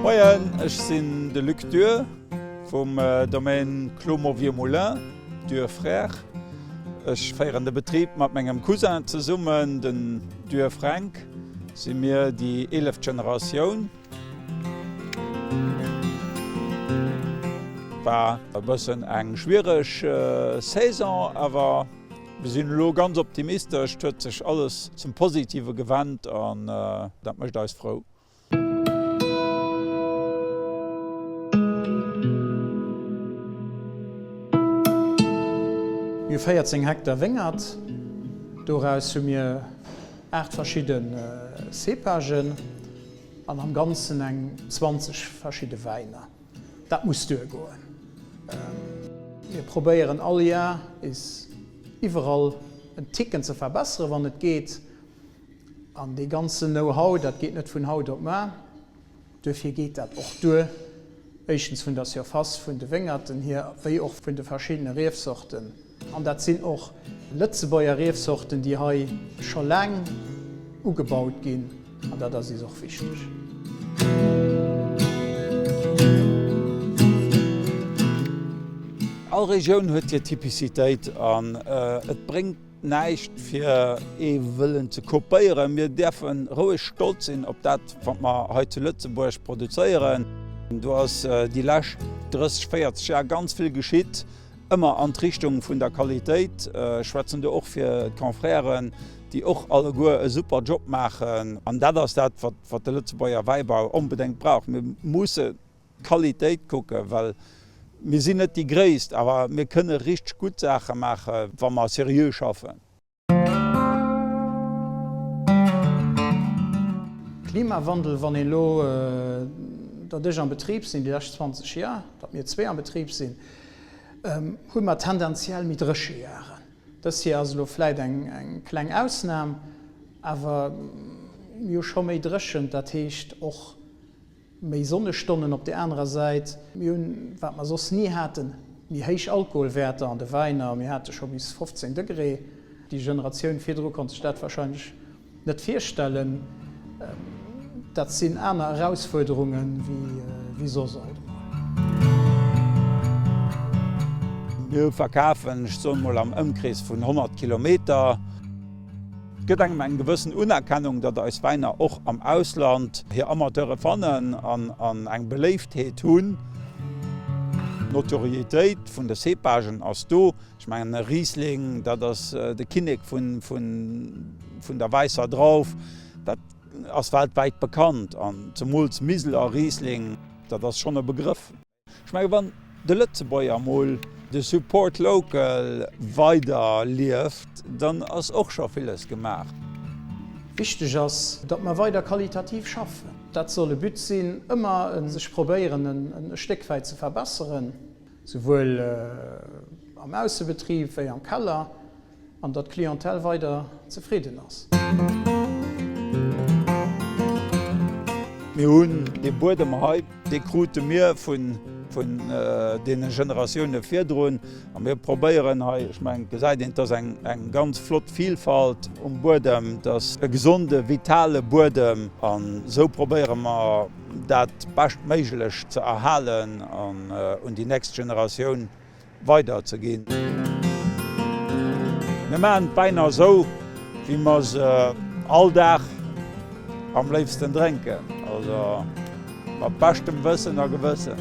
Moien, ech sinn de Luc Duhr vum Domaine Clos Mauvier Moulin, Duhr Frères. Ech féieren de Betrib mat mengem Cousin zesummen, den Duhr Fränk si mir déi eeleft Generatioun. War e bëssen eng schwiereg Saison, awer mir sinn elo ganz optimistesch. Et huet sech alles zum Positive gewent an dat mécht eis frou. Mir hu 14 Hektar Wéngert, doraus hu mir 8 verschidde Cépagen. An am Ganzen eng 20 verschidde Wäiner. Dat muss duergoen. Mir probéieren all Jar is iwwerall en Ticken ze verbesseren, wann et geet. An dee ganzen Know-how, dat geet net vun haut op mar. Duerfir geet dat och duer, éischtens vun der Surface vun de Wéngerten hier, wéi och vun de verschiddene Riefsorten. An dat sinn och Lëtzebuerger Riefsorten, déi hei scho laang ugebaut ginn, an dat ass is och wichteg. All Regioun huet hir Typicitéit an et bréngt näischt fir ee wëllen ze kopéieren. Mir däerfe roueg stolz sinn op dat wat mer hei zu Lëtzebuerg produzéieren. Do ass déi lescht 30, 40 Jar ganz vill geschitt. Ëmmer an d'Richtung vun der Qualitéit, ech schwätzen do och fir d'Confrèren, déi och alleguer e super Job maachen. An dat ass dat, wat de Lëtzebuerger Wäibau onbedéngt brauch. Mir musse d'Qualitéit kucken, well mir sinn net déi Gréisst, awer mir kënne richteg gutt Saache maachen, wa mer seriö schaffen. Klimawandel, wann een elo, datt ech am Betrib sinn déi lescht 20 Jar, datt mir zwee am Betrib sinn, hu mer tendenziell méi dréche Jaren. Dës Jär ass elo vläit eng kleng Ausnam, awer mir hu scho méi dréchent, dat heescht och, Méi Sonnestonnen op der anerer Säit. Mir hunn, wat mer soss ni haten, méi héich Alkoholwäerter an de Wäiner. Mir hate scho bis 15 Degré. Déi Generatioun virdru konnt sech dat warscheinlech net virstellen. Dat sinn aner Erausfuerderunge wéi soss alt emol. Mir verkafen, ech soen emol am Ëmkrees vun 100 Kilometer. Et gëtt engem eng gewëssen Unerkennung, datt eis Wäiner och am Ausland hir Amateure fannen an eng Beléiftheet hunn. D'Notoriéitéit vun de Cépagen ass do. Ech mengen e Riesling, dat ass de Kinnek vun der wäisser Drauf, dat ass weltwäit bekannt. An zemools Miseler Riesling, dat ass schonn e Begrëff. Ech menge wann de Lëtzebuerger mol de Support local weider lieft, dann ass och scho villes gemaach. Wichteg ass, datt mer weider qualitativ schaffen. Dat soll e But sinn, ëmmer sech probéieren e Stéck wäit ze verbesseren, souwuel am Aussebetrib wéi am Keller. an datt d'Clientèle weider zefridden ass. Mir hunn dee Buedem hei, dee krute mir vun deene Generatioune virdrun a mir probéieren hei, ech mengen, et gesäit een, et ass eng ganz flott Vilfalt um Buedem, et ass e gesonde, vitale Buedem an esou probéiere mer dat beschtméiglech ze erhalen an un déi nächst Generatioun weider ze ginn. Mir maachen d'Wäin nach esou wéi mer se all Dag am léifsten drénken, also mat beschtem Wëssen a Gewëssen.